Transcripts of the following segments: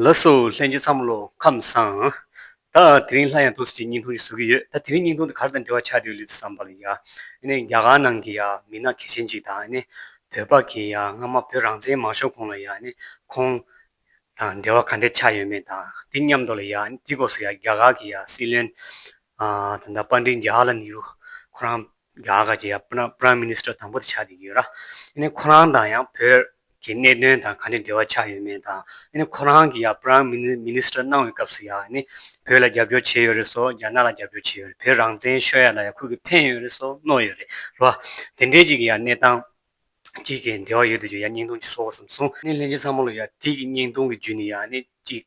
ལ་སོ་ལྷན་གྱི་མཚམས་བློ་ཁམས་སངས། ད་དེ་རིང་སླར་ཡང་དུས་སུ་ཅིག་སྙིང་ཐུང་ཞིག་ཟུག་གི་ཡོད་ད་དེ་རིང་སྙིང་ཐུང་དེ་གར་དང་འབྲེལ་བ་ཆགས་འདུག་ལུས་དེ་བསམ་པ་ལ་ཡ་ནི་རྒྱ་གར་ནང་གི་ཡ་མི་སྣ་གལ་ཆེན་ཅིག་དང་ཡ་ནི་བོད་པ་གི་ཡ་སྔ་མ་བོད་རང་བཙན་མང་ཤོར་གོང་ལ་ཡ་ནི་ཁོང་དང་འབྲེལ་བ་ག་འདྲས་ཆགས་ཡོད་མེད་དང་དེ་མཉམ་དུ་ལ་ཡ་ནི་དེའི་སྐོར་སུ་ཡ་རྒྱ་གར་གི་ཡ་སྲིད་བློན་ཨ་ད་ད་པ་འདྲིན་ཇཱ་ཧ་ལ་ནི་རུ་ཁོ་རང་རྒྱ་གར་གྱི Prime Minister དང་པོ་དེ་ཆགས་བསྡད་ཀྱི་ཡོད་ར། ཡིན་ཁོ་རང་དང་ཡང་བོད་ཀྱི་གནད་དོན་དང་ག་འདྲའི་འབྲེལ་བ་ཆགས་ཡོད་མེད་དང། ཡིན་ཁོ་རང་གིས་ཡང Prime Minister གནང་བའི་སྐབས་སུ་ཡང་ཡིན་བོད་ལ་རྒྱབ་སྐྱོར་བྱས་ཡོད་རེད་སོ་རྒྱ་ནག་ལ་རྒྱབ་སྐྱོར་བྱས་ཡོད་རེད་བོད་རང་བཙན་ཤོད་ཡ་ལ་ཡང་ཁོ་གིས་ཕན་ཡོད་རེད་སོ་གནོད་ཡོད་རེད་ར། དེ་འདྲའི་གཅིག་གི་ཡང་གནས་སྟངས་གཅིག་གི་འབྲེལ་བ་ཡོད་དུ་ཆུག་ཡ་སྙིང་སྟོང་ཅིག་གསོ་གོ་བསམ་སོང། ནས་ལྷན་རྒྱས་ཚང་མ་ལ་ཡང་དེ་གི་སྙིང་སྟོང་གི་རྒྱུ་ནི་ཡང་ནི་གཅིག།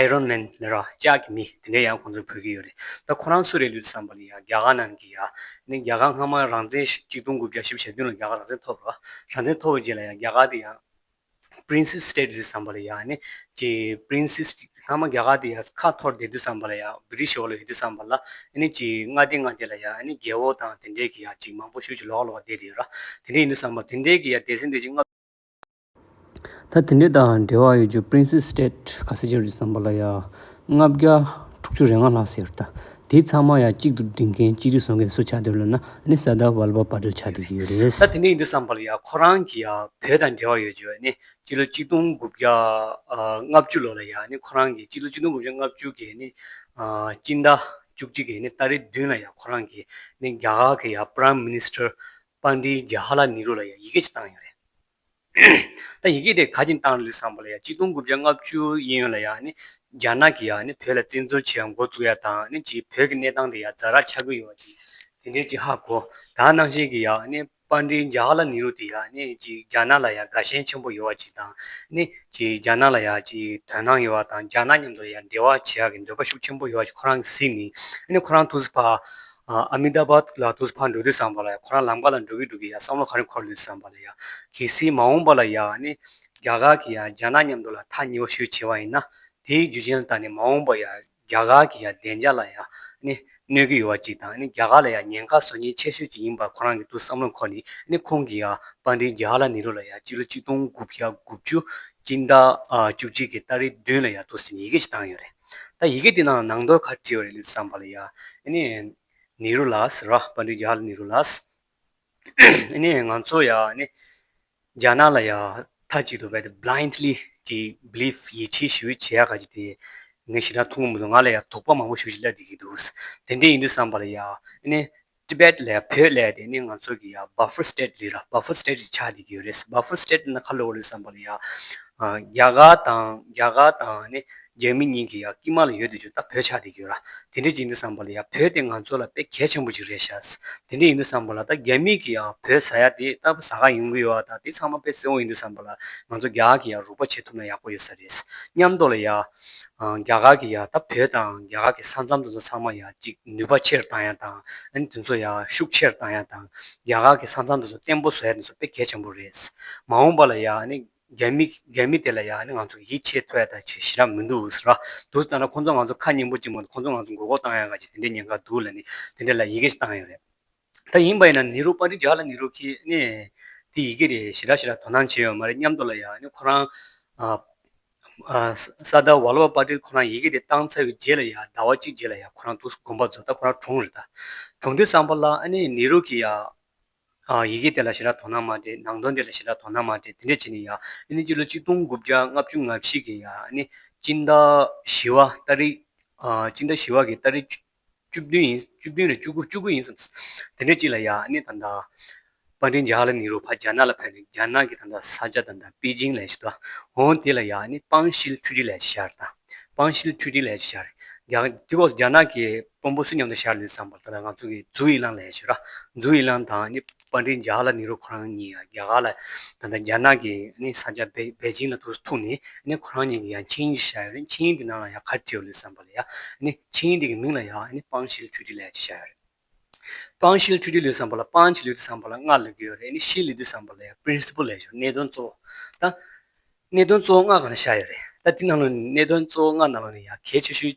Iron Man ལ་རོགས་སྐྱག་གི་མི་དེ་འདྲས་ཡང་ཁོང་ཚོ་བོད་ཀྱི་ཡོད་རེད་ད་ཁོ་རང་སུ་རེད་ལུས་བསམ་པ་ནི་ཡང་རྒྱ་གར་ནང་གི་ཡ་ནི་རྒྱ་གར་སྔ་མ་རང་བཙན་གཅིག་སྟོང་དགུ་བརྒྱ་བཞི་བ་ཞེ་བདུན་ལ་རྒྱ་གར་རང་བཙན་ཐོབ་རོགས་རང་བཙན་ཐོབ་བའི་རྗེས་ལ་ཡང་རྒྱ་གར་དེ་ཡང། Princess State ལུས་བསམ་པ་ལ་ཡང་ནི་ཀྱི Princess སྔ་མ་རྒྱ་གར་དེ་ཡང་ཁ་འཐོར་བསྡད་དུས་བསམ་པ་ལ་ཡང British འོག་ལ་ཡོད་དུས་བསམ་པ་ལ་ནི་ཀྱི་མངའ་སྡེ་མངའ་སྡེ་ལ་ཡང་ནི་རྒྱལ་བོ་དང་དེ་འདྲས་ཀྱི་ཡ་ཀྱི་མང་པོ་ཤུགས་ཀྱི་ལོག་ལོག་བསྡད་དེ་ཡོད་རོགས་དེ་འདྲས་ཡིན་དུས་བསམ་པ་དེ་འདྲས་ཀྱི་ཡ་དེ་ཚེ་འདས་ཀྱི་མངའ། ད་དེ་འདྲ་དང་འབྲེལ་བ་ཡོད་རྒྱུ Princess State ག་ས་ཆེ་རུ་བརྩམས་པ་ལ་ཡ་ལྔ་བརྒྱ་དྲུག་ཅུ་རེ་ལྔ་ལྷག་ཟེར་ད་དེ་ཚང་མ་ཡ་གཅིག་ཏུ་སྒྲིལ་མཁན་གཅིག་སྒྲིལ་བཟོ་མཁན་སུ་ཆགས་འདུག་ལབ་ན་ནི་ས་ད་བ་ལ་བ་པ་འདྲ་ཆགས་འདུག་གི་རེད། ད་དེ་འདྲ་ཡིན་འདུག་བསམ་པ་ལ་ཡ་ཁོ་རང་གི་ཡ་བོད་དང་འབྲེལ་བ་ཡོད་རྒྱུ་ནི་སྤྱི་ལོ་གཅིག་སྟོང་དགུ་བརྒྱ་ལྔ་བཅུ་ལོ་ལ་ཡ་ནི་ཁོ་རང་གི་སྤྱི་ལོ་གཅིག་སྟོང་དགུ་བརྒྱ་ལྔ་བཅུ་གི་ནི་སྤྱི་ཟླ་བཅུ་གཅིག་གི་ནི་ཏཱ་རེ་བདུན་ལ་ཡ་ཁོ་རང་གི་ནི་རྒྱ་གར་གི་ཡ Prime Minister Pandit Jawaharlal Nehru ལ་ཡ་ཡི་གེ་གཅིག་བཏང་ཡོད་རེད། ད་ཡི་གེ་དེ་ག་གྱི་མདངས་ལུས་བསམ་པ་ལ་ཡང་གཅིག་སྟོང་དགུ་བརྒྱ་ལྔ་བཅུ་ཡིན་ཡོད་ལ་ཡང་རྒྱ་ནག་གིས་ཡང་བོད་ལ་བཙན་འཛུལ་བྱས་མགོ་བཙུགས་ཡ་དང་ཅིག་བོད་ཀྱི་གནས་སྟངས་དེ་ཡང་རྫ་ར་ཆགས་ཀྱི་ཡོད་ཅིག་དེ་འདྲའི་ཅིག་ཧ་གོ་ད་ནང་བཞིན་གྱི་ཡང་དཔར་འདྲིའི་འཇའ་ལ་ནི་རུ་དེ་ཡང་ཅིག་རྒྱ་ནག་ལ་ཡང་དགའ་ཞེན་ཆེན་པོ་ཡོད་ཅིག་དང་ཅིག་རྒྱ་ནག་ལ་ཡང་ཅིག་དོན་སྣང་ཡོད་དང་རྒྱ་ནག་མཉམ་དུ་ཡང་འབྲེལ་བ་བྱེད་ཡ་གི་འདོད་པ་ཤུགས་ཆེན་པོ་ཡོད་ཅིག་ཁོ་རང་གི་གཟིགས་ནི་ཁོ་རང་ཐུགས་བཟི་བ Ahmedabad། ལ་དུས་ཕར་འགྲོ་དུས་བསམ་པ་ལ་ཡ་ཁོ་རང་ལམ་ཀ་ལ་འགྲོ་གི་འདུག་གི་ཡ་བསམ་བློ་ག་རེ་འཁོར་ལོས་བསམ་པ་ལ་ཡ། གལ་སྲིད་མ་འོངས་པ་ལ་ཡ་ནི། རྒྱ་གར་གྱི་ཡ་རྒྱ་ནག་མཉམ་འགྲོ་ལ་ཐག་ཉེ་བ་ཤོས་ཆེ་བ་ཡིན་ན། དེའི་རྒྱུ་ཅན་ལྟར་ནི་མ་འོངས་པ་ཡ་རྒྱ་གར་གྱི་ཡ་བདེ་འཇགས་ལ་ཡ་ནི། གནོད་གི་ཡོད་བ་ཅིག་དང་ནི་རྒྱ་གར་ལ་ཡ་ཉེན་ཁ་བཟོ་ཉེན་ཆེ་ཤོས་ཅིག་ཡིན་པར་ཁོ་རང་གི་དུས་བསམ་བློ་འཁོར་ནི་ནི་ཁོང་གི་ཡ་དཔར་འདི་རྒྱ་ཧ་ལ་ནི་རུ་ལ་ཡ་སྤྱི་ལོ་གཅིག་སྟོང་དགུ་བརྒྱ་དགུ་བཅུ་གཅིག་ཟླ་བཅུ་གཅིག་གི་སྟ་རེ་བདུན་ལ་ཡ་དུས་ཡི་གེ་ཞིག་བཏང་ཡོད་རེད། ད་ཡི་གེ་འདི་ནང་ནང་དོར་ཁ་བྲིས་བ་རེད་ལུས་བསམ་པ་ལ་ཡ། ནི་ནི་རུ་ལཱས་ར་པཱ་འདི་རྒྱ་ལ་ནི་རུ་ལཱས། ནི་ང་ཚོ་ཡ། ནི་རྒྱ་ནག་ལ་ཡ། ཐ་གཅིག་ཏུ་བས་ཏེ blindly གྱིས belief ཡིད་ཆེས་ཞུ་བའི་བྱེད་ཡ་ག་གཅིག་དེ། ངས་ཤི་ན་ཐུགས་ངུ་མི་འདུག་ང་ལ་ཡ་དོགས་པ་མང་པོ་ཞུ་བཞིན་སླེབས་བསྡད་ཀྱི་འདུག་དེ་འདྲས་ཡིན་དུས་བསམ་པ་ལ་ཡ། ནི Tibet ལས་བོད་ལས་དེ་ནི་ང་ཚོ་གི་ཡ Buffer State ལི་ར Buffer State རེ་ཆགས་འདི་གི་ཡོད་རེད་ཟེར Buffer State དེ་ན་ཁ་ལོ་བ་རེད་བསམ་པ་ལ་ཡ་རྒྱ་གར་དང་རྒྱ་གར་དང་ནི་རྒྱ་མི་གཉིས་གི་ཡ་དཀྱིལ་མ་ལ་ཡོད་དུ་ཆུག་ད་བོད་ཆགས་འདི་གི་ཡོད་ར་དེ་འདྲ་གྱིས་འདུག་བསམ་པ་ལ་ཡ་བོད་དེ་ང་ཚོ་ལ་དཔེ་གལ་ཆེན་པོ་ཅིག་རེད་ཤག་དེ་འདྲ་ཡིན་འདུག་བསམ་པ་ལ་ད་རྒྱ་མི་གི་ཡ་བོད་ཟ་ཡ་དེ་ད་བཟའ་ག་ཡོང་གི་ཡོད་ཨ་ད་དེ་ཚང་མ་དཔེ་བསྲེ་བོ་ཡིན་འདུག་བསམ་པ་ལ་ང་ཚོ་རྒྱ་གི་ཡ་རུག་པ་བྱེད་ཐུབ་ན་ཡག་པོ་ཡོད་ས་རེད་སྙམ་མདོག་ལ་ཡ། རྒྱ་གར་གྱི་ཡང་ད་བོད་དང་རྒྱ་གར་གྱི་ས་མཚམས་དེ་ཚོ་ཚང་མ་ཡང་ཅིག་ནུས་པ་ཆེར་བཏང་ཡང་དང་ཨན་དེ་ཚོ་ཡང་ཤུགས་ཆེར་བཏང་ཡང་དང་རྒྱ་གར་གྱི་ས་མཚམས་དེ་ཚོ་བརྟན་པོ་བཟོ་ཡ་དེ་ཚོ་དཔེ་གལ་ཆེན་པོ་རེད། མ་འོངས་པ་ལ་ཡང་ཨ་ནི་རྒྱ་མི་དེ་ལ་ཡང་ཨ་ནི་ང་ཚོ་ཡིད་ཆེས་ཐོ་ཡ་ད་ཆེ་ཞེ་རག་མི་འདུག་ཟེ་ར་འདུག་ད་ན་ཁོང་ཚོ་ང་ཚོ་ཁ་སྙན་པོ་ཅིག་མ་འདུག་ཁོང་ཚོ་ང་ཚོ་མགོ་སྐོར་བཏང་ཡ་ག་ཅིག་དེ་འདྲའི་ཉེན་ཁ་འདུག་ལ་ནི་དེ་འདྲའི་ལ་ཡི་གེ་ཞིག་བཏང་ཡོད་རེད། ད་ཡིན་པ་ཡིན་ན་ནི་རུ་པཱ་རི་རྒྱ་ལ་ནི་རུ་ཁི་ནས་དེ་ཡི་གེ་རེ་ཞི་ར་ཞི་ར་དོ་སྣང་བྱས་ཡོད་མ་རེད་སྙམ་དུ་ལ་ཡང་ཁོ་རང་སཱ་ད་ཝཱ་ལ་བ་པཱ་ཏིར་ཁོ་རང་ཡི་གེ་དེ་བཏང་ཚར་བའི་རྗེས་ལ་ཡང་ཟླ་བ་གཅིག་རྗེས་ལ་ཡང་ཁོ་རང་འདུག་དགོངས་པ་རྫོགས་ད་ཁོ་རང་གྲོངས་རེད་ད། གྲོངས་དུས་བསམ་པ་ལ་ནི་རུ་ཁི་ཡང་ཡི་གེ་དེ་ལ་ཞི་ར་དོ་སྣང་མ་སྟེ་ནང་དོན་དེ་ལ་ཞི་ར་དོ་སྣང་མ་སྟེ་དེ་འདྲས་བྱས་ནས་ཡང་སྤྱི་ལོ་གཅིག་སྟོང་དགུ་བརྒྱ་ལྔ་བཅུ་ང་བཞི་གི་ཡང་སྤྱི་ཟླ་བཞི་བ་སྟ་རི་སྤྱི་ཟླ་བཞི་བ་གི་སྟ་རི་བཅུ་བདུན་ཡིན། བཅུ་བདུན་རེད་བཅུ་དགུ་བཅུ་དགུ་ཡིན་བསམས། དེ་འདྲའི་གཅིག་ལ་ཡ་ཨ་ནི་ད་ལྟ། པཱ་ཏིན་ཇཱ་ལ་ནི་རུ་ཕ་རྒྱ་ནག་ལ་ཕེབས་ནས་རྒྱ་ནག་གི་ད་ལྟ་ས་ཆ་དང་ཐང་པེ་ཅིང་ལས་བྱེད་དོ། འོན་དེ་ལ་ཡ་ཨ་ནི་པང་ཤིལ་ཆུ་གྲིའི་ལས་བྱེད་ཤར་དང། པང་ཤིལ་ཆུ་གྲིའི་ལས་བྱེད་ཤར། རྒྱ། དུས་སྐབས་སུ་རྒྱ་ནག་གི་དཔོན་པོ་སུ་མཉམ་དུ་ཤར་ལུས་བསམས་པར་ད་ལྟ་ང་ཚོ་གི་ཛུའུ་ཡི་ལང་ལས་བྱེད་ར། ཛུའུ་ཡི་ལང་དང་ཨ་ནི། པ་འདི་འཇགས་ལ་ནི་རུ་ཁོ་རང་གཉིས་ཡང་རྒྱ་གར་ལ་ད་ལྟ་རྒྱ་ནག་གི་ས་ཆ་པེ་ཅིང་ལ་དུར་ཐུག་ནས་ཁོ་རང་གཉིས་ཀྱིས་ཡང་ཆིངས་ཡིག་ཞིག་བཞག་ཡོད་རེད་ཆིངས་ཡིག་འདི་ནང་ལ་ཡང་ག་རེ་བྲིས་ཡོད་ལུས་བསམ་པ་ལ་ཡང་ཆིངས་ཡིག་འདི་གི་མིང་ལ་ཡང་སྤང་ཤིལ་ཁྲུས་ཁྲི་ལས་ཅེས་བཞག་ཡོད་རེད། སྤང་ཤིལ་ཁྲུས་ཁྲི་ལུས་བསམ་པ་ལ་སྤང་ཕྱིས་ལུས་བསམ་པ་ལ་སྔར་ལུས་ཀྱི་ཡོད་རེད་ཕྱིས་ལུས་བསམ་པ་ལ་ཡང Principle ལས་ཞོར་གནད་དོན་གཙོ་བོ་དང། གནད་དོན་གཙོ་བོ་ལྔ་གང་ལ་བཞག་ཡོད་རེད་ད་འདི་ནང་ལོ་ནི་གནད་དོན་གཙོ་བོ་ལྔ་ནང་ལོ་ནི་ཡང་གལ་ཆེ་ཤོས།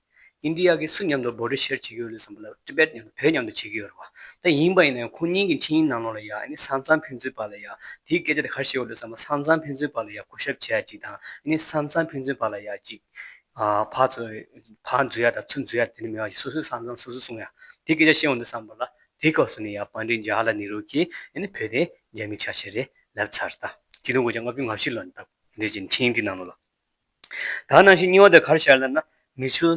ཨིན་དྲི་ཡ་གིས་སུ་མཉམ་དུ་འབོ་ཏྲི་ཤེར་བྱེད་ཀྱི་ཡོད་ལུས་བསམ་པ་ལ Tibet མཉམ་དུ་བོད་མཉམ་དུ་བྱེད་ཀྱི་ཡོད་རེད་བ། ད་ཡིན་པ་ཡིན་ན་ཡང་ཁོང་གཉིས་ཀྱི་འཕྲིན་ཡིག་ནང་ལོགས་ལ་ཡང་ཨིན་སང་ཙང་ཕན་ཚུན་བར་ལ་ཡང་དེའི་སྐད་ཆ་དེ་གར་བཤད་ཡོད་ལུས་བསམ་པ་སང་ཙང་ཕན་ཚུན་བར་ལ་ཡང་སྐུ་ཞབས་བྱས་ཡ་ཅིག་དང་ཨིན་སང་ཙང་ཕན་ཚུན་བར་ལ་ཡ་ཅིག་ཕག་ཕག་འཛུལ་ཡ་དང་ཚུར་འཛུལ་ཡ་དེ་ནི་མེད་བ་ཞིག་སོ་སོའི་སང་ཙང་སོ་སོས་སྲུང་ཡ་དེའི་སྐད་ཆ་བཤད་འོང་དུས་བསམ་པ་ལ་དེའི་སྐབས་སུ་ནི་ཡང་བང་ཀྲིན་ཇཱ་ཧ་ལ་ནེ་རུ་གིས་ཨིན་བོད་དེ་རྒྱ་མི་ཆ་ཤས་རེད་ལབ་ཚར་ད་ཁྱི་ལོ་སྒོ་ལྕགས་ལྔ་བཅུའི་ངར་ཤུལ་ལ་འདུག་དེ་འདྲའི་ཕྱིན་འཕྲིན་ཡིག་འདིའི་ནང་ལོགས་ལ། ད་ནང་བཞིན་རྙིང་བ་དེ་གར་ཤར་ལབ་ན། མི་ཆུ་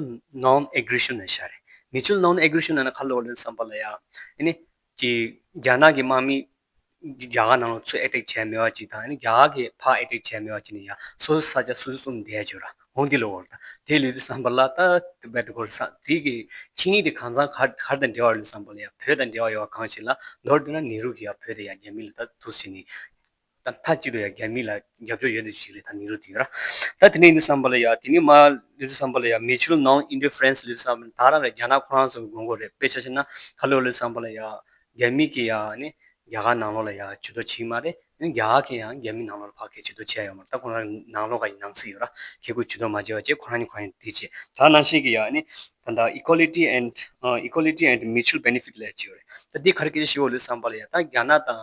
ནོམ་ཨེ་གུར་ཤུ་ནས་ཤར་རེད། མི་ཆུ་ནོམ་ཨེ་གུར་ཤུ་ནང་ན་གར་ལོག་ལེན་བསམ་པ་ལ་ཡང། ཨེ་ནི། ཀྱི། རྒྱ་ནག་གི་དམག་མི། རྒྱ་གར་ནང་ལོག་ཚུད་ཨེ་ཏེག་བྱས་མེད་བ་ཅིག་དང་ཨེ་ནི་རྒྱ་གར་གྱི་ཕག་ཨེ་ཏེག་བྱས་མེད་བ་ཅིག་ནི་ཡང་སོ་སོའི་ས་ཆ་སོ་སོས་བསྲུང་བསྡད་བྱོས་ར། འོང་དེ་ལོག་རེད། དེ་ལུས་དུས་བསམ་པ་ལ་ད། བལ་དུ་གོར་ས། དེ་གི། ཆིངས་ཡིག་དེ་གང་ཚང་གར་གར་དང་འབྲེལ་བ་རེད་བསམ་པ་ལ་ཡང་བོད་དང་འབྲེལ་བ་ཡོད་བ་གང་ཞིག་ལ་མདོར་བསྡུ་ན་ནེ་རུ་གི་ཡང་བོད་དེ་ཡང་རྒྱ་མི་ལ་ད་ཐུགས་ཆེ་ནི། ད་མཐའ་གཅིག་ཏུ་ཡང་རྒྱ་མི་ལ་རྒྱབ་སྐྱོར་ཡོད་དོ་ཞིག་རེད་ད་ནི་རུ་དེ་ཡོད་ར། ད་དེ་ནས་ནི་བསམ་པ་ལ་ཡ་དེ་ནི་མ་ལུས་བསམ་པ་ལ་ཡ་མེ་ཆུ་ནང་ཨིན་ཏི་ཧྥེརེན་སི་ལུས་བསམ་པ་ནི་ད་རང་རེད་རྒྱ་ནག་ཁོ་རང་ཚོ་གི་དགོས་མཁོ་རེད་དཔེ་ཆ་ཆེ་ན་ཁ་ལོ་ལུས་བསམ་པ་ལ་ཡ་རྒྱ་མི་གིས་ཡ་ནི་རྒྱ་གར་ནང་ལོག་ལ་ཡ་བྱེད་དོ་ཆིག་མ་རེད་ནི་རྒྱ་གར་གིས་ཡང་རྒྱ་མི་ནང་ལོག་ལ་ཕ་གི་བྱེད་དོ་བྱེད་ཡ་ཡོད་མ་རེད་ད་ཁོ་རང་གི་ནང་ལོག་ག་ཡི་ནང་སི་ཡོད་ར་ཁེ་གུ་བྱེད་དོ་མ་བྱེད་བ་བྱེད་ཁོ་རང་ནི་ཁོ་རང་གི་དེ་བྱེད་ད་རང་ཤེས་གི་ཡ་ནི་ད་ད Equality and Equality and Mutual Benefit ལ་ཡ་བྱེད་ཡོད་རེད་ད་དེ་ག་རེ་སྐད་ཆ་ཤི་བོ་ལུས་བསམ་པ་ལ་ཡ་ད་རྒྱ་ནག་དང་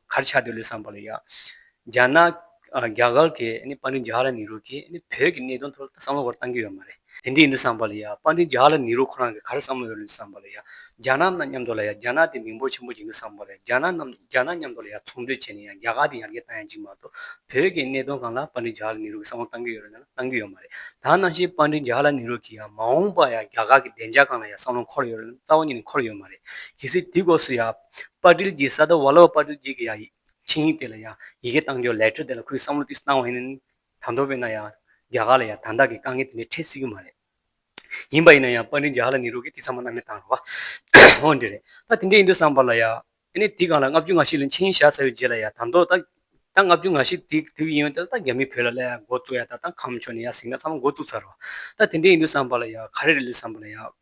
གར་ཆག་འདི་ལོས་བསམ་པ་ལ་ཡག། རྒྱ་ནག། རྒྱ་གར་གྱི་དཔའ་འབྲིང་ཇཱ་ཧ་ལ་ནི་རུ་གྱིས་བོད་ཀྱི་གནད་དོན་ཐོག་བསམ་བློ་ག་རེ་བཏང་གི་ཡོད་མ་རེད། དེ་འདྲས་ཡིན་དུས་བསམ་པ་ལ་ཡག་དཔའ་འབྲིང་ཇཱ་ཧ་ལ་ནི་རུ་ཁོ་རང་གིས་ག་རེ་བསམ་བློ་ཡོད་རེད་འདུག་བསམ་པ་ལ་ཡག། རྒྱ་ནག་རྣམས་མཉམ་འདོགས་ལ་ཡག་རྒྱ་ནག་དེ་མིང་པོ་ཆེན་པོ་བྱེད་འདུག་བསམ་པ་ལ་ཡག་རྒྱ་ནག་རྣམས་རྒྱ་ནག་མཉམ་འདོགས་ལ་ཡག་ཚོང་འདུས་བྱས་ནས་ཡང་རྒྱ་གར་དེ་ཡར་རྒྱས་བཏང་ཡང་ཅི་མ་གཏོགས་བོད་ཀྱི་གནད་དོན་གང་ལ་དཔའ་འབྲིང་ཇཱ་ཧ་ལ་ནི་རུ་གིས་བསམ་བློ་བཏང་གི་ཡོད་རེད་ན་བཏང་གི་ཡོད་མ་རེད་དྭགས་ནང་བཞིན་དཔའ་འབྲིང་ཇཱ་ཧ་ལ་ནི་རུ་གིས་ཡང་མ་འོངས་པར་ཡང་རྒྱ་གར་གྱི་བདེ་འཇགས་གང་ལ་ཡང་བསམ་བློ་འཁོར་ཡོད་རེད་ན་རྩ་བ་ཉིད་ནས་འཁོར་ཡོད་མ་རེད་གལ་སྲིད་དེའི་སྒོས་སུ་ཡང། པར་སྒྲིལ་གྱི་ས་ད་བ་ལ་བ་པར་སྒྲིལ་གྱི་གི་ཡ་ཡིག་ཆིངས་ཡིག་དེ་ལ་ཡང་ཡི་གེ་གཏང་རྒྱུ་ལེ་ཁྲི་དེ་ལ་ཁོའི་བསམ་བློ་ཏིས་བཏང་བ་ཡིན། ད་མདོ་བས་ན་ཡང་རྒྱ་གར་ལ་ཡང་དང་དག་གི་དཀའ་ངལ་དེ་འདྲའི་འཕྲད་སྲིད་གི་མ་རེད། ཡིན་པ་ཡིན་ན་ཡང་པར་སྒྲིལ་རྒྱ་གར་ལ་ནི་རུ་གི་དེ་ཚང་མ་གནང་མི་གཏང་རོགས། འོ་འདི་རེད་ད་དེ་འདྲས་ཡིན་དུས་བསམ་པར་ལ་ཡ། ཨེ་ནས་དེ་གང་ལ་ལྔ་བཅུ་ང་ཤི་ལ་འཆིང་བཞག་ཚར་བའི་རྗེས་ལ་ཡ་ད་མདོ་ད། ད་ལྔ་བཅུ་ང་ཤི་དེ་དུས་ཡིན་ཡོད་ད་ད་རྒྱ་མི་བོད་ལ་ལ་ཡ་འགོ་བཙུགས་ཡ་ད་ད་ཁམས་ཕྱོགས་ནས་ཡ་ཟིང་ན་ཚང་མ་འགོ་བཙུགས་ཚར་རོགས། ད་དེ་འདྲས་ཡིན་དུས་བསམ་པར་ལ་ཡ་ག་རེ་རེད་ལུས་བསམ་པར་ལ་ཡ།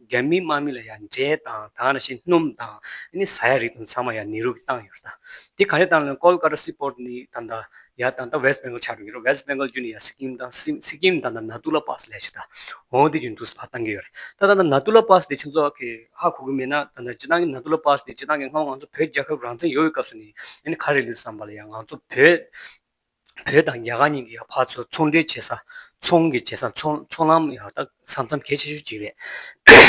རྒྱ་མི་དམག་མི་ལ་ཡང་འབྲས་དང་དང་ར་ཤིང་སྣུམ་དང་ནི་ཟ་ཡག་རིགས་དང་ཚང་མ་ཡང་ནེ་རུ་གི་བཏང་ཡོད་རེད་ད། དེ་ག་རེ་བཏང་ལན་ཀོལ་ཀ་ཏ་སི་པོར་ནི་ད་ད་ཡག་ད་ད་ཝེས་པེངྒོལ་ཆགས་འགྲོ་གི་རེད་ཝེས་པེངྒོལ་རྒྱུ་ནི་ཡང་སི་ཀིམ་ད་སི་ཀིམ་ད་ད་ན་ཏུ་ལ་པཱ་སི་ལས་ཤི་ད་འོང་དེ་རྒྱུ་ནི་དུ་སི་བྷ་བཏང་གི་ཡོད་རེད་ད་ད་ན་ཏུ་ལ་པཱ་སི་དེ་ཆུ་ཚོགས་ཀི་ཧ་གོ་གི་མེད་ན་ད་ད་སྤྱི་བཏང་གི་ན་ཏུ་ལ་པཱ་སི་དེ་སྤྱི་བཏང་གི་སྔ་བ་ང་ཚོ་བོད་རྒྱལ་ཁབ་རང་བཙན་ཡོ་བའི་སྐབས་སུ་ནི་ཡ་ནི་ག་རེ་ལུས་བསམ་པ་ལ་ཡང་ང་ཚོ་བོད། བོད་དང་རྒྱ་གར་གཉིས་ཀྱི་བར་ཚོ་ཚོང་འབྲེལ་བྱེད་ས། ཚོང་གི་བྱེད་ས་ཚོང་ལམ་ཡང་དག་ས་མཚམས་གལ་ཆེ་ཤོས་གཅིག་རེད།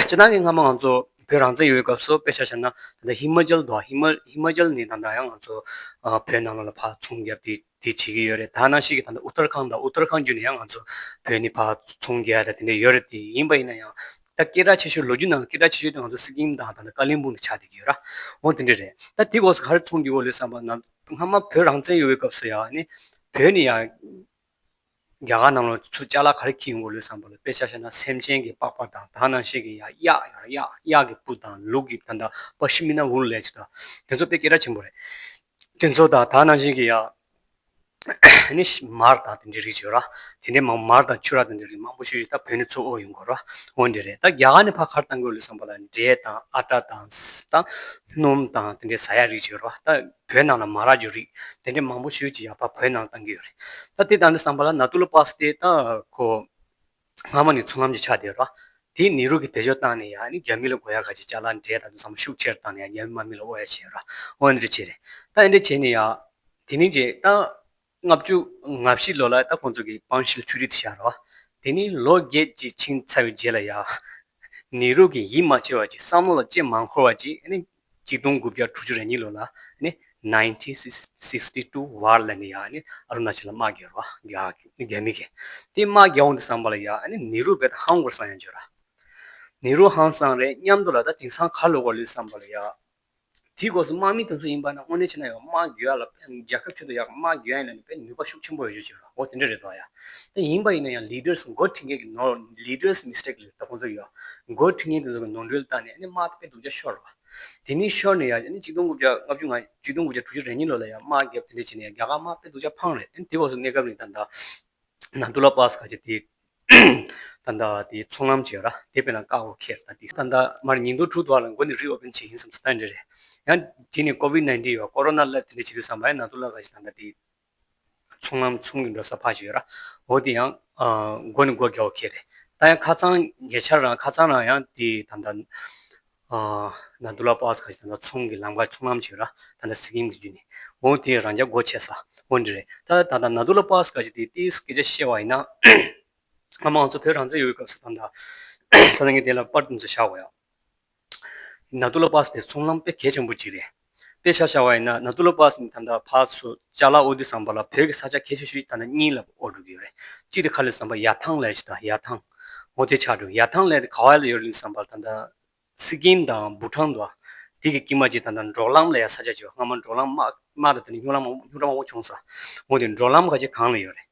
སྤྱིར་བཏང་གི་སྔ་མོ་ང་ཚོ་བོད་རང་བཙན་ཡོད་སྐབས་སུ་དཔེ་ཆ་བྱ་ན་ད་ལྟ་ཧི་མ་ཅལ་དང་ཧི་མ་ཅལ་ནས་ད་ལྟ་ཡང་ང་ཚོ་བོད་ནང་ལ་ལ་བར་ཚོང་བརྒྱབ་དེ་དེ་བྱེད་ཀྱི་ཡོད་རེད་ད་ནང་བཞིན་གྱི་ད་ལྟ་ཨུ་ཏར་ཁང་དང་ཨུ་ཏར་ཁང་བརྒྱུད་ནས་ཡང་ང་ཚོ་བོད་ནས་བར་ཚོང་བརྒྱབ་ཡ་ད་དེ་འདྲ་ཡོད་རེད་དེ་ཡིན་པ་ཡིན་ན་ཡང་ད་སྐད་གྲགས་ཆེ་ཤོས་ལོ་རྒྱུས་ནང་ལ་སྐད་གྲགས་ཆེ་ཤོས་དེ་ང་ཚོ་སི་ཀིམ་དང་ད་ལྟ་ཀ་ལིང་སྤུང་དེ་ཆགས་བསྡད་ཀྱི་ཡོད་ར་འོང་དེ་འདྲ་རེད་ད་དེ་སྐོར་སུ་ག་རེ་ཚོང་རྒྱུ་བོ་ལོས་བསམ་པ་ན་སྔ་མ་བོད་རང་བཙན་ཡོད་པའི་སྐབས་སུ་ཡང་ནི་བོད་ནི་ཡང་རྒྱ་གར་ནང་ལ་ཚུར་བཅའ་ལ་ག་རེ་བགྱིས་ཡོང་གི་ལོས་བསམ་པ་ལ་དཔེ་ཆ་ཤར་ན་སེམས་ཅན་གྱི་པགས་པ་དང་དག་སྣང་ཤེས་ཀྱི་ཡང་གཡག་ཡང་གཡག་གཡག་གི་སྤུ་དང་ལུག་གི་ད་ད་པ་ཤི་མིན་ན་འུར་ལས་བྱེད་ད་དེ་ཚོ་དཔེ་སྐད་གྲགས་ཆེན་པོ་རེད། དེ་ཚོ་དང་དག་སྣང་ཤེས་ཀྱི་ཡང་ནི་མར་དང་དེ་འདྲའི་རིགས་བྱོས་ར། དེ་འདྲའི་མང་མར་དང་ཆུ་རགས་དེ་འདྲའི་རིགས་མང་པོ་བྱོས་ད་བོད་ནི་ཚུར་ཨོ་ཡོང་དགོས་ར། འོ་འདྲས་རེད་ད་རྒྱ་གར་ནི་ཕ་གར་བཏང་དགོས་ལོས་བསམ་པ་ལ་འབྲས་དང་ཨ་བྲ་དང་ཟས་དང་སྣུམ་དང་དེ་འདྲའི་བཟའ་ཡག་རིགས་ཅིག་ཡོད་རེད་བ་ད་བོད་ནང་ལ་མ་རག་རྒྱུ་རིགས་དེ་འདྲའི་མང་པོ་ཤོས་ཀྱི་ཡག་པ་བོད་ནང་བཏང་གི་ཡོད་རེད་ད་དེ་ལྟ་ནི་བསམ་པ་ལ་ན་ཏུ་ལོ་པཱ་སི་ཏེ་ད་ཁོ་སྔ་མོ་ནས་ཚུར་ལམ་གྱི་ཆགས་བསྡད་ཡོད་རེད་བ་དེས་ནེ་རུ་གྱི་དེ་ཕྱོགས་བཏང་ནས་ཡང་ནི་རྒྱ་མི་ལ་དགོ་ཡག་ག་ཅིག་བྱ་ལ་འདྲེ་ད་དུང་བསམ་བློ་ཤུགས་ཆེར་བཏང་ནས་ཡང་རྒྱ་མི་མ་མི་ལ་ཨོ་ཡག་བྱས་ཡོད་རེད་བ་འོ་འདྲ་བྱས་རེད་ད་འདྲ་བྱས་ནས་ཡང་དེ་ནི་རྗེས་ད། ལྔ་བཅུ་ང་བཞི་ལོ་ལ་ད་ཁོང་ཚོ་གི་སྤང་ཤིལ་ཆུ་རིས་དེ་བཞག་རོགས། དེ་ནི་ལོ་བརྒྱད་ཅིག་ཕྱིན་ཚར་བའི་རྗེས་ལ་ཡ། ནེ་རུ་གིས་ཡིད་མ་ཆེས་བར་གྱི་བསམ་བློ་ལ་ལྕེ་མ་འཁོར་བར་གྱི་ནི། གཅིག་སྟོང་དགུ་བརྒྱ་དྲུག་ཅུ་རེ་གཉིས་ལོ་ལ་ནི། Nineteen Sixty Two བར་ལ་ནི་ཡ་ནི་ཨ་རུ་ན་ཅལ་ལ་དམག་རྒྱག་རོགས། རྒྱ་མི་གིས་དེ་དམག་རྒྱག་འོང་དུ་བསམ་པ་ལ་ཡ་ནི་ནེ་རུ་བས་ད་ཧང་གོར་སང་ཡང་བརྗོད་ར། ནེ་རུ་ཧང་སང་རེད་སྙམ་དུ་ལ་ད་དེང་སང་ག་ལོ་གོར་ལོས་བསམ་པ་ལ་ཡ། དེའི་སྒོ་སུ་དམག་མི་དུང་སོ་ཡིན་པ་ན་དངོས་གནས་ཕྱི་ན་ཡང་དམག་རྒྱུ་ཡ་ལ་རྒྱལ་ཁབ་ཆུད་དུ་ཡ་དམག་རྒྱུ་ཡ་ཡིན་ན་ནི་པའི་ནུས་པ་ཤུགས་ཆེན་པོ་ཡོད་རྒྱུ་ཞིག་རེད་འོ་དེ་འདྲ་རེད་འདུག་ཡ། དེ་ཡིན་པ་ཡིན་ན་ཡང Leaders མགོ་འཁྲིད་མཁན་གྱི་ནོར Leaders mistake ལས་ད་ཁོང་ཚོ་ཡོད། མགོ་འཁྲིད་མཁན་དེ་ཚོ་གི་ནོར་འཁྲུལ་ལྟ་ནས་ཨ་ནི་དམག་དཔེ་སྡུག་ཅག་ཤོར་བ། དེ་ནི་ཤོར་ནས་ཡ་ཨ་ནི་གཅིག་སྟོང་དགུ་བརྒྱ་ལྔ་བཅུ་ང་གཅིག་སྟོང་དགུ་བརྒྱ་དྲུག་ཅུ་རེ་གཉིས་ལོ་ལ་ཡ་དམག་རྒྱབ་དེ་འདྲ་བྱས་ནས་ཡ་རྒྱ་གར་དམག་དཔེ་སྡུག་ཅག་འཕངས་རེད་ཨ་ནི་དེ་སྒོ་སུ་གནས་སྐབས་ནི་ད་ནཱ་ནཱ་ཏུ་ལ་པཱ་སི་ཀ་ཅེ་དེ་ད་ད་དེ་ཚོང་ལམ་བྱས་ར་དེ་པེ་ན་ཀ་ཨོ་ཁེར་ད་དེ། ད་ད་མར་ཉིན་དུ་དྲུག་འདུག་ལ་མགོ་ནི་རི་ཨོ་བེན་བྱས་ཡིན་བསམ་སི་ད་འདྲེ་རེད། ཡང་དེ་ནི་ཀོ་བིད་ནཱིན་ཏིན་ཡོད་ཀོ་རོ་ན་བསླབ་དེ་འདྲེ་བྱེད་དུས་བསམ་པ་ཡང་ན་དུ་བསླབ་ག་ཞིག་ད་ད་དེ། ཚོང་ལམ་ཚོང་གི་འགྲོ་ས་ཕག་བྱས་ཡོད་ར་འོ་དེ་ཡང། མགོ་ནི་མགོ་རྒྱ་ཨོ་ཁེར་རེད། ད་ཡང་ཁ་ཚང་ཉེ་ཆར་རང་ཁ་ཚང་རང་ཡང་དེ་ད་ད། ནདུ་ལ་པཱ་ཟ་ཁ་ཞེས་དང་ཚོང་གི་ལམ་ཁ་ཆུང་ལམ་ཞིག་ར་ད་ནས་སི་ཀིམ་གྱི་རྒྱུད་ནས་འོང་དེ་རང་རྒྱ་སྒོ་ཕྱེ་ས་དབོན་འདི་རེད་ད་ད་ད་ནདུ་ལ་པཱ་ཟ་ཁ་ཞེས་དེ་དེའི་སྐད་ཆ་བཤད་བ་ཡིན་ན་ང་མང་གཙོ་བོད་རང་བཙན་ཡོད་སྐབས་སུ་དང་ད་ད་ངས་དེ་ལ་པར་དུ་འཛུལ་བཞག་གོ་ཡ། ནདུ་ལ་པཱ་ཟ་དེ་ཚོང་ལམ་དཔེ་གལ་ཆེན་པོ་གཅིག་རེད། དཔེ་ཆ་ཤར་བ་ཡིན་ན་ན་ཏུ་ལོ་པཱ་སི་ནི་ཐམ་ཐག་ཕག་སོ་ལྕགས་ལ་ཨོ་དི་ཟམ་པ་ལ་བོད་ཀྱི་ས་ཆ་ཁྱད་ཆོས་ཤིག་ད་ནི་གཉིས་ལ་ཨོ་འགྲོ་གི་ཡོད་རེད་གཅིག་དེ་ཁ་ལི་ཟམ་པ་ཡར་ཐང་ལས་ཀྱི་དང་ཡར་ཐང། མོ་དེ་ཆགས་འགྲོ་ཡར་ཐང་ལས་དེ་ག་ཝའི་ལ་ཡོད་རེད་གླིང་ཟམ་པ་ལ་ད་ད་སི་ཀིམ་དང་བུ་ཁྲང་འདུག་དེ་གི་ཀིམ་མ་ཅིག་ད་ད་འབྲོག་ལམ་ལ་ཡང་ས་ཆ་ཅིག་ཡོད་སྔ་མོ་འབྲོག་ལམ་དམག་དང་དེ་ནི་སྨྱུག་ལམ་སྨྱུག་ལམ་དབུ་ཆུང་ས་མོ་དེ་འབྲོག་ལམ་ག་ཅིག་གང་ལ་ཡོད་རེད།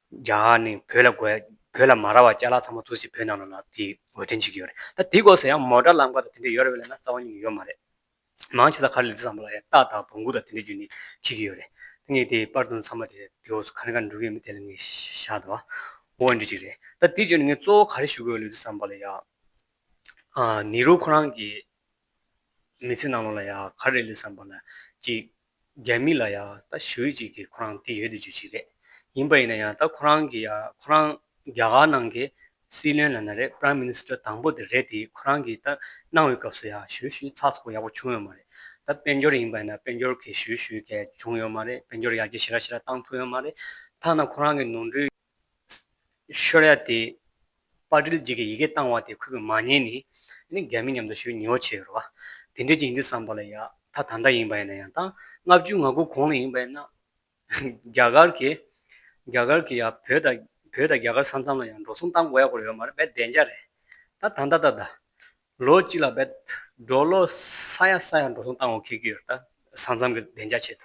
རྒྱ་གར་ནི་བོད་ལ་དགོས། བོད་ལ་མ་རག་བ་བཅའ་ལག་ཚང་མ་ཐུགས་སྲས་བོད་ནང་ལ་དེ་འོས་འཕྲིན་བྱེད་ཀྱི་ཡོད་རེད་ད་དེ་སྐོར་ཟེར་ཡང་མོ་དགྲ་ལམ་ཁ་དང་དེ་འདྲ་ཡོད་རེད་བས་ན་རྩ་བ་ཉིད་ནས་ཡོད་མ་རེད། མང་ཆེ་ས་ཁར་ལི་ཙི་བཟང་པོ་ལ་ཡང་སྟག་དང་བོང་གུ་དང་དེ་འདྲ་རྒྱུ་ནི་ཁེལ་གྱི་ཡོད་རེད་དེ་ངས་དེ་པར་བཏོན་ཚར་མ་དེ་དེ་འོག་སུ་ག་ནས་ག་ནས་འགྲོ་གི་ཡོད་མེད་དེ་ལ་ངས་ཤ་དོ། འོ་འདྲི་གཅིག་རེད་ད་དེ་བརྗོད་ནས་ངས་གཙོ་བོ་ག་རེ་ཞུ་དགོས་ལི་ཙི་བཟང་པོ་ལ་ཡང། ནི་རུ་ཁོ་རང་གིས། མི་ཚེ་ནང་ལོགས་ལ་ཡང་ག་རེ་ལས་བསམ་པ་ན་ཅིག། རྒྱ་མི་ལ་ཡང་ད་ཞུ་ཡིག་ཅིག་གིས་ཁོ་རང་དེ་ཡོད་དུ་འཇུ་ཅིག་རེད། ཡིན་པ་ཡིན་ན་ཡང་ད་ཁོ་རང་གིས་ཡང་ཁོ་རང་རྒྱ་གར་ནང་གི་སྲིད་བློན་ལ་ན་རེ Prime Minister དང་པོ་དེ་རེད་དེ་ཁོ་རང་གིས་ད་གནང་བའི་སྐབས་སུ་ཡང་ཞུ་ཞུའི་ཚགས་ཚུགས་ཡག་པོ་བྱུང་ཡོད་མ་རེད། ད་དཔལ་འབྱོར་ཡིན་པ་ཡིན་ན་དཔལ་འབྱོར་གྱི་ཞུ་ཞུ་གས་བྱུང་ཡོད་མ་རེད་དཔལ་འབྱོར་ཡར་རྒྱས་ཞི་ར་ཞི་ར་བཏང་ཐུབ་ཡོད་མ་རེད། ཐ་ན་ཁོ་རང་གི་ནོར་འཁྲུལ། ཤོར་ཡ་དེ། པར་དྲིལ་འཇིག་གི་ཡི་གེ་བཏང་བ་དེ་ཁོས་མ་ཉན་ནི། ནི་རྒྱ་མི་མཉམ་དུ་ཞུ་ཉེའོ་བྱས་ཡོད་རོ། དེ་འདྲའི་རྐྱེན་འདི་བསམ་པ་ལ་ཡ་ད་ད་ལྟ་ཡིན་པ་ཡིན་ན་ཡང་དང་ལྔ་བཅུ་ང་དགུ་གོང་ལ་ཡིན་པ་ཡིན་ན། རྒྱ་གར་གྱི། རྒྱ་གར་གྱི་ཡ་བོད་དང་བོད་དང་རྒྱ་གར་ས་མཚམས་ལ་ཡང་འགྲོ་སོང་གཏང་དགོས་ཡ་སྐོར་ཡོད་མ་རེད་བས་བདེན་ཅག་རེད། ད་ད་ད་ད་ད། ལོ་གཅིག་ལ་བས། འགྲོ་ལོ་ས་ཡ་ས་ཡ་འགྲོ་སོང་གཏང་འོ་ཁེལ་གྱི་ཡོད་རེད་ད། ས་མཚམས་གི་བདེན་ཅག་ཆེད་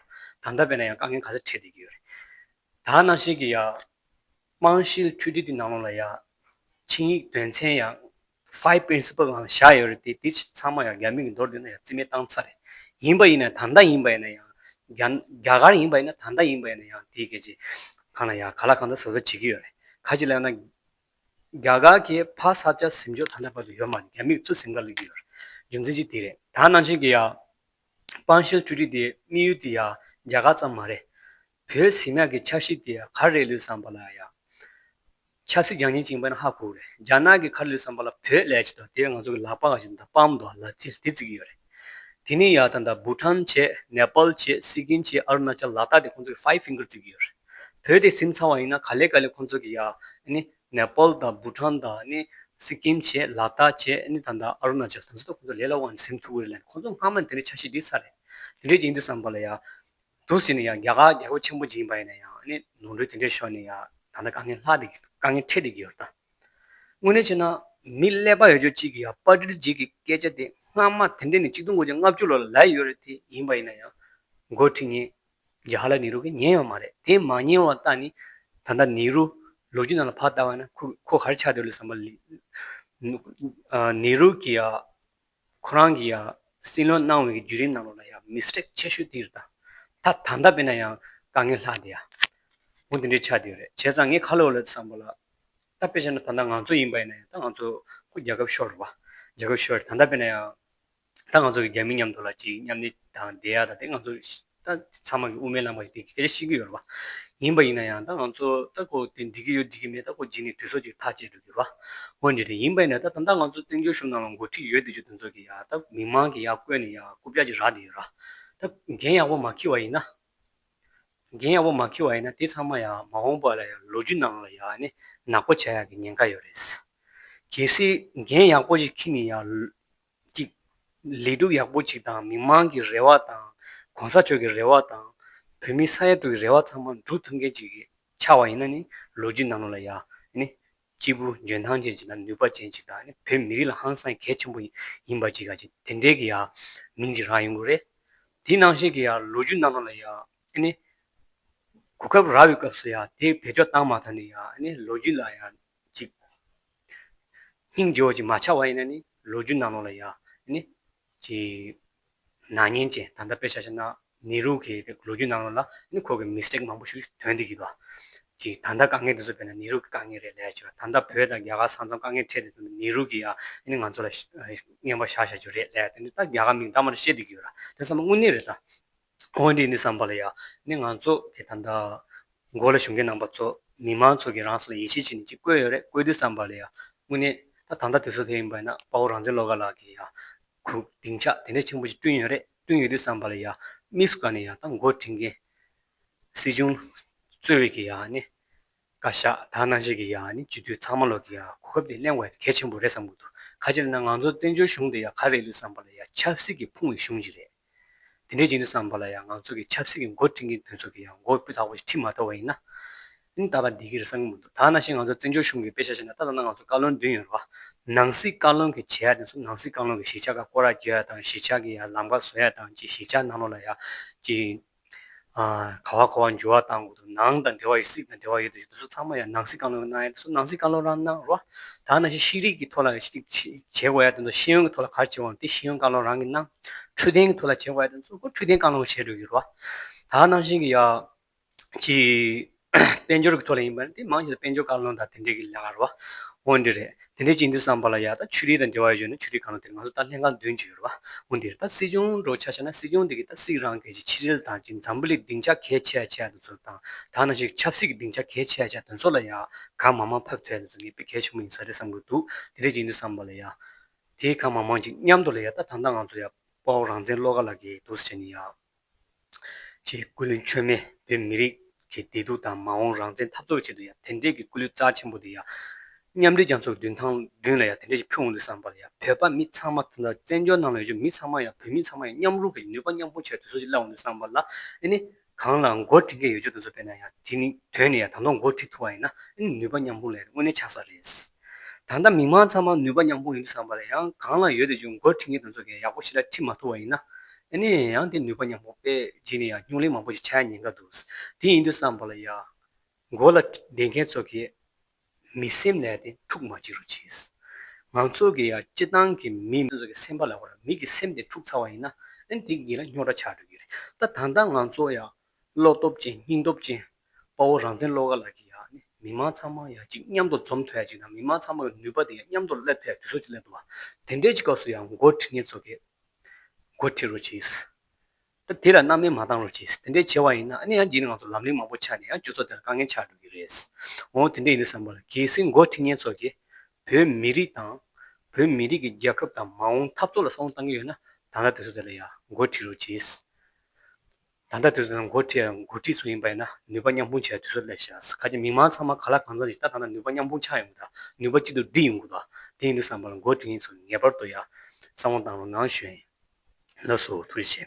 དུ། ད་ད་བས་ན་ཡང་དཀའ་ངལ་ག་ཚད་འཕྲད་བསྡད་ཀྱི་ཡོད་རེད། དག་སྣང་ཤེལ་གྱི་ཡག། རྨང་ཤེལ་འཕྲུལ་སྒྲིལ་གྱི་ནང་ལོགས་ལ་ཡག། ཆིངས་ཡིག་དོན་ཚན་ཡག། Five Principle ལའང་བཞག་ཡོད་རེད་དེ་དེ་ཚང་མ་ཡང་རྒྱ་མིང་གི་མདོར་བསྡུས་ན་ཡང་རྩིས་མེད་བཏང་ཚར་རེད། ཡིན་པ་ཡིན་ན་ད་ལྟ་ཡིན་པ་ཡིན་ན་ཡང། རྒྱ་གར་ཡིན་པ་ཡིན་ན་ད་ལྟ་ཡིན་པ་ཡིན་ན་ཡང་དེའི་སྐད་ཆའི་གང་ལ་ཡག་ག་ལ་གང་འདྲ་ཟེར་བ་བྱེད་ཀྱི་ཡོད་རེད། ཁ་ཅིག་ལ་ཡང་ན། རྒྱ་གར་གྱི་ཕ་ས་སྐྱ་གཟིམ་ཇོ་ད་ལྟ་བར་དུ་ཡོད་མ་རེད་རྒྱ་མིས་ཚུར་སེམས་ཁ་ལུས་ཀྱི་ཡོད་རེད། རྒྱུ་མཚན་གཅིག་དེ་རེད། དག་སྣང་ཤེལ་གྱི་ཡག། རྨང་ཤེལ་འཕྲུལ་སྒྲིལ་དེ་དམིགས་ཡུལ་དེ་ཡང་རྒྱ་གར་ཙམ་མ་རེད། བོད་ཟིང་ནག་གི་ཆབ་སྲིད་དེ་གར་རེད་ལུས་བསམ་པ་ལ་ཡང། ཆབ་སྲིད་རྒྱང་ཉིན་བཅིངས་པ་ནི་ཧ་གོ་རེད་རྒྱ་ནག་གི་གར་ལུས་བསམ་པ་ལ་བོད་ལས་བྱེད་དོ་དེ་ང་ཚོ་གི་ལག་པ་ག་ཞིག་འདི་སྤམ་མདོག་ལ་ཐིལ་དེ་བརྩི་གི་ཡོད་རེད་དེ་ནི་ཡག་ད་ད་བུ་ཁྲམ་བྱེད་ནེ་པལ་བྱེད་སི་ཀིན་བྱེད་ཨ་རུ་ན་ཅལ་ལ་དག་དེ་ཁོང་ཚོ་གི་ཧྥའི་ཧྥིང་གིར་བརྩི་གི་ཡོད་རེད་བོད་དེ་སིམ་ཚང་བ་ཡིན་ན་ག་ལེ་ག་ལེ་ཁོང་ཚོ་གི་ཡག་ནི་ནེ་པལ་དང་བུ་ཁྲམ་དང་ནི་སི་ཀིན་བྱེད་ལ་དག་བྱེད་ནི་ད་ད་ཨ་རུ་ན་ཅལ་དང་ཚོ་དེ་ཁོང་ཚོ་ལས་ལ་དབང་ནི་སིམ་ཐུག་གི་རེད་ལན་ཁོང་ཚོ་སྔ་མ་ནི་དེ་འདྲའི་ཆགས་ཤེས་དེ་ཚར་རེད་དེ་འདྲའི་བྱེད་འདི་བསམ་པ་ལ་ཡག། འདུག་ཟེར་ནས་ཡང་རྒྱ་གར་རྒྱལ་པོ་ཆེན་པོ་འཇིགས་པ་ཡིན་ན་ཡང་ནི་ནོར་འཁྲུལ་དེ་འདྲས་ཤོར་ནས་ཡང་ད་ལྟ་དཀའ་ངལ་ལྷག་དཀའ་ངལ་འཕྲད་དེ་གི་ཡོད་ད། དངོས་གནས་བྱས་ན་མི་ཀླད་པ་ཡོད་ཆོས་གཅིག་གིས་ཡང་དཔའ་དྲིལ་འཇིགས་ཀྱི་སྐད་ཆ་དེ་སྔ་མ་དེ་འདྲས་ནི་གཅིག་སྟོང་དགུ་བརྒྱ་ལྔ་བཅུ་ལོར་ལ་ཡོད་རེད་དེ་ཡིན་པ་ཡིན་ན་ཡང་མགོ་ཁྲིད་ཉན་རྗ་ཧ་ལ་ནེ་རུ་གིས་ཉན་ཡོད་མ་རེད་དེ་མ་ཉན་བ་ད་ནི་ད་ལྟ་ནེ་རུ་ལོ་རྒྱུས་ནང་ལ་ཕར་ལྟ་བ་ཡིན་ན་ཁོ་ག་རེ་ཆགས་འདུག་ལ་བསམ་པ་ལས། ནེ་རུ་གིས་ཡང་ཁོ་རང་གིས་ཡང་སྲིད་བློན་གནང་བའི་བརྒྱུད་རིམ་ནང་ལོགས་ལ་ཡང་མི་སྐྲག་ཆེ་ཤོས་དེ་རེད་ད། ད་ད་ལྟ་བས་ན་ཡང་དཀའ་ངལ་ལྷག་འདི་ཡ། མོ་འདི་འདྲའི་ཆགས་འདི་རེད་བྱས་ཙང་ངས་ཁ་ལོ་ལོ་བསམ་པ་ལ། ད་དཔེ་བྱས་ན་ད་ལྟ་ང་ཚོ་ཡིན་པ་ཡིན་ན་ཡང་ད་ང་ཚོ་ཁོ་རྒྱལ་ཁབ་ཤོར་རེད་བ། རྒྱལ་ཁབ་ཤོར་རེད་ད་ད་བས་ན་ཡང། ད་ང་ཚོ་གི་རྒྱ་མི་མཉམ་དུ་ལ་གཅིག་མཉམ་གནས་དང་བསྡད་ཡ་ད་དེ་ང་ཚོ་ད་ཚང་མ་གི་དབུ་མའི་ལམ་ཁ་ཞིག་འདི་གི་གལ་ཆེ་ཤིན་གི་ཡོད་རེད་བ། ཡིན་པ་ཡིན་ན་ཡང་ད་ང་ཚོ་ད་ཁོ་དེ་འགྲིག་གི་ཡོད་འགྲིག་གི་མེད་ད་ཁོ་འགྱིག་ནི་དུས་སོགས་ཅིག་ཐག་བཅད་འགྲོ་གི་རེད་བ། ངོ་འདྲི་དེ་ཡིན་པ་ཡིན་ན་ད་ད་ལྟ་ང་ཚོ་བཙན་བྱོལ་གཞུང་ནང་ལ་འགོ་ཁྲིད་ཡོད་དེ་ཆོས་དོན་ཚོགས་ཀྱི་ཡང་ད་མི་མང་གི་ཡང་བསྐོས་ནས་ཡང་རྐུབ་ལྕག་ཅིག་རག་དེ་ཡོད་ར། ད་འགན་ཡག་པོ་མ་འཁྱིལ་བ་ཡིན་ན། འགན་ཡག་པོ་མ་འཁྱིལ་བ་ཡིན་ན་དེ་ཚང་མ་ཡང་མ་འོངས་པ་ལ་ཡང་ལོ་རྒྱུས་ནང་ལ་ཡང་ནི་ནག་པོ་བྱ་ཡག་གི་ཉེན་ཁ་ཡོད་རེད། གལ་སྲིད་འགན་ཡག་པོ་ཞིག་འཁྱིལ་ནས་ཡང། གཅིག། ལས་སྒྲུབ་ཡག་པོ་གཅིག་དང་མི་མང་གི་རེ་བ་དང། གོང་ས་མཆོག་གི་རེ་བ་དང། བོད་མི་ས་ཡ་དྲུག་གི་རེ་བ་ཚང་མ་འགྲུབ་ཐུབ་མཁན་ཅིག་ཆགས་བ་ཡིན་ན་ནི་ལོ་རྒྱུས་ནང་ལོགས་ལ་ཡག་ནི། སྐྱིད་པོ་འཇོན་ཐང་ཅན་གཅིག་དང་ནུས་པ་ཅན་གཅིག་དང་ནི་བོད་མི་རིགས་ལ་ཧང་སངས་གལ་ཆེན་པོ་ཡིན་པ་གཅིག་ག་གཅིག་དེ་འདྲའི་གི་ཡག་མིང་གཅིག་རག་ཡོང་གི་རེད། དེ་ནང་བཞིན་གི་ཡག་ལོ་རྒྱུས་ནང་ལོགས་ལ་ཡག་ནི། གོ་སྐབས་རག་བའི་སྐབས་སུ་ཡག་དེ་བེད་སྤྱོད་བཏང་མ་ཐག་ནི་ཡག་ནི་ལོ་རྒྱུས་ལ་ཡག་གཅིག་སྙིང་རྗེ་བ་ཅིག་མ་ཆགས་བ་ཡིན་ན་ནི་ལོ་རྒྱུས་ནང་ལོགས་ལ་ཡ། ནི། ཀྱི། ནག་ཉེན་ཅན་ད་ལྟ་དཔེ་ཆ་ཆ་ན་ནེ་རུ་གི་ལོ་རྒྱུས་ནང་ལོགས་ལ་ནི་ཁོ་གི mistake མང་པོ་ཞིག་དོན་དེ་གི་དོ། ཀྱི་ད་ལྟ་དཀའ་ངལ་དེ་ཚོ་བས་ན་ནེ་རུ་གི་དཀའ་ངལ་རེད་ལས་ཆོ་ད་ལྟ་བོད་དང་རྒྱ་གར་ས་མཚམས་དཀའ་ངལ་འཕྲད་དེ་ཚོ་ནི་ནེ་རུ་གི་ཡ། ནི་ང་ཚོ་ལ། བརྙན་པར་བཞག་བཞག་རྒྱུ་རེད་ལས་དེ་ནི་ད་རྒྱ་གར་མིང་ད་མར་བཤད་དེ་གི་ཡོད་ར་དེ་ཚོ་མ་དངོས་གནས་རེད་ད། དངོས་འདི་ནི་བསམ་པ་ལ་ཡང་ནི་ང་ཚོ་གི་ད་ལྟ་མགོ་ལ་ཞུགས་མཁན་ནང་པ་ཚོ་མི་མང་ཚོ་གི་རང་སོ་ལ་ཡིད་ཆེས་བྱེད་ནི་ཅིག་བཀོད་ཡོད་རེད་བཀོད་དུས་བསམ་པ་ལ་ཡང་དངོས་གནས་ད་ད་ལྟ་དུས་ཚོད་དེ་ཡིན་པས་ན་དཔའ་བོ་རང་བཙན་བློ་དགའ་ལགས་ཀྱིས་ཡང་གུ་སྡིངས་ཆ་དེ་འདྲ་ཆེན་པོ་ཅིག་བསྐྲུན་ཡོད་རེད་བསྐྲུན་ཡོད་དུས་བསམ་པ་ལ་ཡང་དམིགས་སུ་བཀར་ནས་ཡང་ད་མགོ་འཁྲིད་མཁན་སྲིད་གཞུང་གཙོས་བས་ཀྱི་ཡང་ནི་བཀའ་ཤག་དག་སྣང་བྱེད་ཀྱི་ཡང་ནི་བྱེད་དུས་ཚང་མ་ལོག་ཀྱི་ཡང་གོ་སྐབས་དེ་གླེང་བ་གལ་ཆེན་པོ་རེད་བསམ་གྱི་འདུག་ག་ཅིར་ན་ང་ཚོ་བཙན་བྱོལ་གཞུང་དེ་ཡང་ག་རེ་ལུས་བསམ་པ་ལ་ཡང་ཆབ་སྲིད་ཀྱི་ཕུང་བའི་གཞུང་ཅིག་རེད། དེ་འདྲའི་རྗེས་འདུན་བསམ་པ་ལ་ཡང་ང་ཚོ་གི་ཆབ་སྲིད་ཀྱི་མགོ་བཀྲིན་གྱི་འདུན་ཚོགས་ཀྱི་ཡང་མགོ་སྤུས་དག་པོ་ཞིག་ཁྲིད་མ་ཐུབ་པ་ཡིན་ན། ཨིན་ད་ག་འདི་གིར་བསམ་གྱི་མི་འདུག་ད་ནང་བཞིན་ང་ཚོ་བཙན་བྱོལ་གཞུང་གི་པེ་ཤ་ཤ་ནས་ད་ལྟ་ན་ང་ཚོ་བཀའ་བློན་བདུན་ཡོད་རེད་བ། ནང་སྲིད་བཀའ་བློན་གྱི་བྱེད་ཡག་དེ་ཚོ་ནང་སྲིད་བཀའ་བློན་གྱི་གཞིས་ཆགས་ཁ་བསྐོར་ཡག་རྒྱོ་ཡག་དང་གཞིས་ཆགས་ཀྱི་ཡང་ལམ་ཁ་བཟོ་ཡག་དང་གྱི་གཞིས་ཆགས་ནང་ལོགས་ལ་ཡག་གྱི། ག་བ་གོ་བ་འཇུ་བ་དང་དགུ་དུ་ནང་དང་འབྲེལ་བ་ཡོད་སྲིད་དང་འབྲེལ་བ་ཡོད་དུ་ཞུ་དུ་སོགས་ཚང་མ་ཡང་ནང་སྲིད་བཀའ་བློན་གྱི་གནང་ཡ་དུ་སོགས་ནང་སྲིད་བཀའ་བློན་རང་གནང་རོགས། དག་ནང་བཞིན་ཤེས་རིག་གི་ཐོག་ལ་བྱེད་དགོས་ཡ་དུ་འདུག་ཤེས་ཡོན་གྱི་ཐོག་ལ་གར་བྱེད་དགོས་དེ་ཤེས་ཡོན་བཀའ་བློན་རང་གིས་གནང། འཕྲོད་བསྟེན་གྱི་ཐོག་ལ་བྱེད་དགོས་ཡ་དུ་འདུག་འཕྲོད་བསྟེན་བཀའ་བློན་བྱེད་དགོས་ཀྱི་རོགས། དག་ནང་བཞིན་གྱི་ཡ། གྱི། དཔལ་འབྱོར་གྱི་ཐོག་ལ་ཡིན་པ་ནི་དེ་མང་ཆེ་བ་དཔལ་འབྱོར་བཀའ་བློན་དང་དེ་འབྲེལ་གྱི་ལས་ཀ་རུ་བ། འོན་དེ་རེད། དེ་འདྲའི་སྤྱི་འཐུས་སམ་བ་ལ་ཡ་ད་ཆོས་རིག་དང་འབྲེལ་བ་ཡོད་ཆོས་ན་ཆོས་རིག་བཀའ་བློན་དེར་ང་ཚོ་ད་ལྷན་ཁང་འདོན་གྱི་ཡོད་རུ་བ། འོན་དེ་རེད་ད་སྲིད་སྐྱོང་འགྲོ་ཆ་ཆ་ན་སྲིད་སྐྱོང་དེ་གིས་ད་སྲིད་རང་གི་ཆེད་ཕྱི་རལ་དང་གྱི་འཛམ་བུ་ལི་སྡིངས་ཆ་གས་ཆས་ཆས་དུ་ཚུར་བཏང་དག་ན་ཞིག་ཆབ་སྲིད་ཀྱི་སྡིངས་ཆ་གས་ཆས་ཆས་དོན་ཚོགས་ལ་ཡ་གང་མང་མང་ཕབ་ཐལ་དུ་ཚུར་ངེས་པའི་གས་ཆུང་མ་ཡིན་ས་རེད་བསམ་གྱི་འདུག་དེ་འདྲའི་སྤྱི་འཐུས་སམ་བ་ལ་ཡ་དེ་གང་མང་མང་གྱི་མཉམ་དུ་ལ་ཡ་ད་ད་ལྟ་ང་ཚོ་ཡ་དཔའ་བོ་རང་བཙན་བློ་དགའ་ལགས་ཀྱིས་དུར་སི་ཆ་ནི་ཡ། ཅེས་སྐུ་ལུས་མཆོད་མེ་བོད་མི་རིགས་ཀྱི་བདེ་སྡུག་དང་མ་འོངས་རང་བཙན་འཐབ་རྩོད་ཆེད་དུ་ཡང་དེ་འདྲས་ཀྱི་སྐུ་ལུས་རྩ་ཆེན་པོ་དེ་ཡང་མཉམ་འབྲེལ་རྒྱ་མཚོར་བདུན་ཐང་བདུན་ལ་ཡང་དེ་འདྲས་ཀྱི་ཕུལ་འོང་དུས་བསམ་པར་ཡང་བོད་པ་མི་ཚང་མ་དང་བཙན་བྱོལ་ནང་ལ་ཡོད་ཀྱི་མི་ཚང་མ་ཡང་བོད་མི་ཚང་མ་ཡང་མཉམ་རུབ་ཀྱི་ནུས་པ་མཉམ་སྤུངས་བྱས་པའི་དུས་ཚོད་ཅིག་སླེབས་འོང་དུས་བསམ་པར་ལ་ཨེ་ནི། གང་ལ་མགོ་འཁྲིད་མཁན་ཡོད་ཆོག་དུས་ཚོད་སྤེལ་ན་ཡང་དེ་ནི་དོན་ནི་ཡང་དང་ཐོག་མགོ་འཁྲིད་ཐུབ་པ་ཡིན་ན་ཨེ་ནི་ནུས་པ་མཉམ་སྤུངས་ལས་དངོས་གནས་ཆགས་ས་རེད། ད་ལྟ་མི་མང་ཚང་མ་ནུས་པ་མཉམ་སྤུངས་ཡིན་དུས་བསམ་པར་ཡང་གང་ལ་ཡོད་དུས་ཀྱི་མགོ་འཁྲིད་མཁན་དང་ཚོགས་མཁན་ཡག་པོ་ཞིག་ལ་འཁྲིད་མ་ཐུབ་པ་ཡིན་ན། ཨེ་ནས་ཡང་དེ་ནུས་པ་ཉམས་མོ་པས་རྗེས་ནས་ཡང་སྙུང་གླེང་མང་པོ་ཞིག་བྱས་ཉེན་ཀ་འདུག་དེ་ཡིན་དུས་བསམ་པ་ལ་ཡག། མགོ་ལ་སྡེ་མཁན་ཚོ་གིས་མི་སེམས་ལས་དེ་འཁྲུག་མ་བྱེད་རོགས་གྱིས། ང་ཚོ་གི་ཡང་སྤྱི་བཏང་གི་མི་ཚོ་གི་སེམས་པ་ལ་བར་མིག་གི་སེམས་དེ་འཁྲུག་ཚར་བ་ཡིན་ན་ཨེ་ན་དེ་གཉིས་ལ་རྙོག་དྲ་ཆགས་འགྲོ་གི་རེད་ད་ད་ལྟ་ང་ཚོ་ཡང་བློ་སྟོབས་ཅན་སྙིང་སྟོབས་ཅན། དཔའ་བོ་རང་བཙན་བློ་དགའ་ལགས་ཀྱིས་ཡང་ནི་མི་མང་ཚང་མ་ཡང་ཅིག་མཉམ་དུ་འཛོམས་ཐུབ་ཡ་ཅིག་དང་མི་མང་ཚང་མ་གི་ནུས་པ་དེ་ཡང་མཉམ་དུ་སླེབས་ཐུབ་ཡ་དུས་སོགས་ཅིག་སླེབས་འདུག་བ། དེ་འདྲའི་ཅིག་སྐབས་སུ་ཡང་མགོ་ཁྲིད་ངེས་ཚོ་གིས། མགོ་ཁྲིད་རོ་གྱིས། ད་དེ་ལ་སྣང་མེད་མ་བཏང་རོ་གྱིས་དེ་འདྲས་བྱས་བ་ཡིན་ན་ནི་ཡང་ཅིག་ནི་ང་ཚོ་ལམ་ལིང་མང་པོ་ཆགས་ནས་ཡང་སྤྱོད་ཚོགས་དེ་ལ་དཀའ་ངལ་ཆགས་འགྲོ་གི་རེད། འོང་དེ་འདྲས་ཡིན་འདུག་བསམ་པར་གལ་སྲིད་མགོ་ཁྲིད་ངེས་ཚོ་གིས། བོད་མི་རིགས་དང། བོད་མི་རིགས་ཀྱི་རྒྱལ་ཁབ་དང་མ་འོངས་འཐབ་རྩོད་ལ་བསམ་བློ་བཏང་གི་ཡོད་ན་ད་ལྟ་དུས་སོགས་དེ་ལ་ཡང་མགོ་ཁྲིད་རོ་གྱིས། ད་ལྟ་དུས་ཚོད་ནི་འགོ་ཁྲིད་དང་འགོ་ཁྲིད་ཚོ་ཡིན་པ་ཡིན་ན་ནུས་པ་མཉམ་སྤུངས་བྱེད་པའི་དུས་ཚོད་ལས་ཤ་ཟ་ག་ཅིག་མིང་མང་ཚང་མ་ག་ལ་གང་ཚང་ཞིག་ལྟ་ད་ལྟ་ནུས་པ་མཉམ་སྤུངས་ཆགས་ཡོང་དགོས་དང་ནུས་པ་གཅིག་ཏུ་བསྒྲིལ་ཡོང་དགོས་དང་དེ་ཡིན་དུས་བསམ་པ་ལ་འགོ་ཁྲིད་ཡིན་ཚོ་ངེས་པར་དུ་ཡ་བསམ་བློ་བཏང་རོགས་གནང་ཞུ་ཡིན་ལགས་སོ་ཐུགས་རྗེ་ཆེ།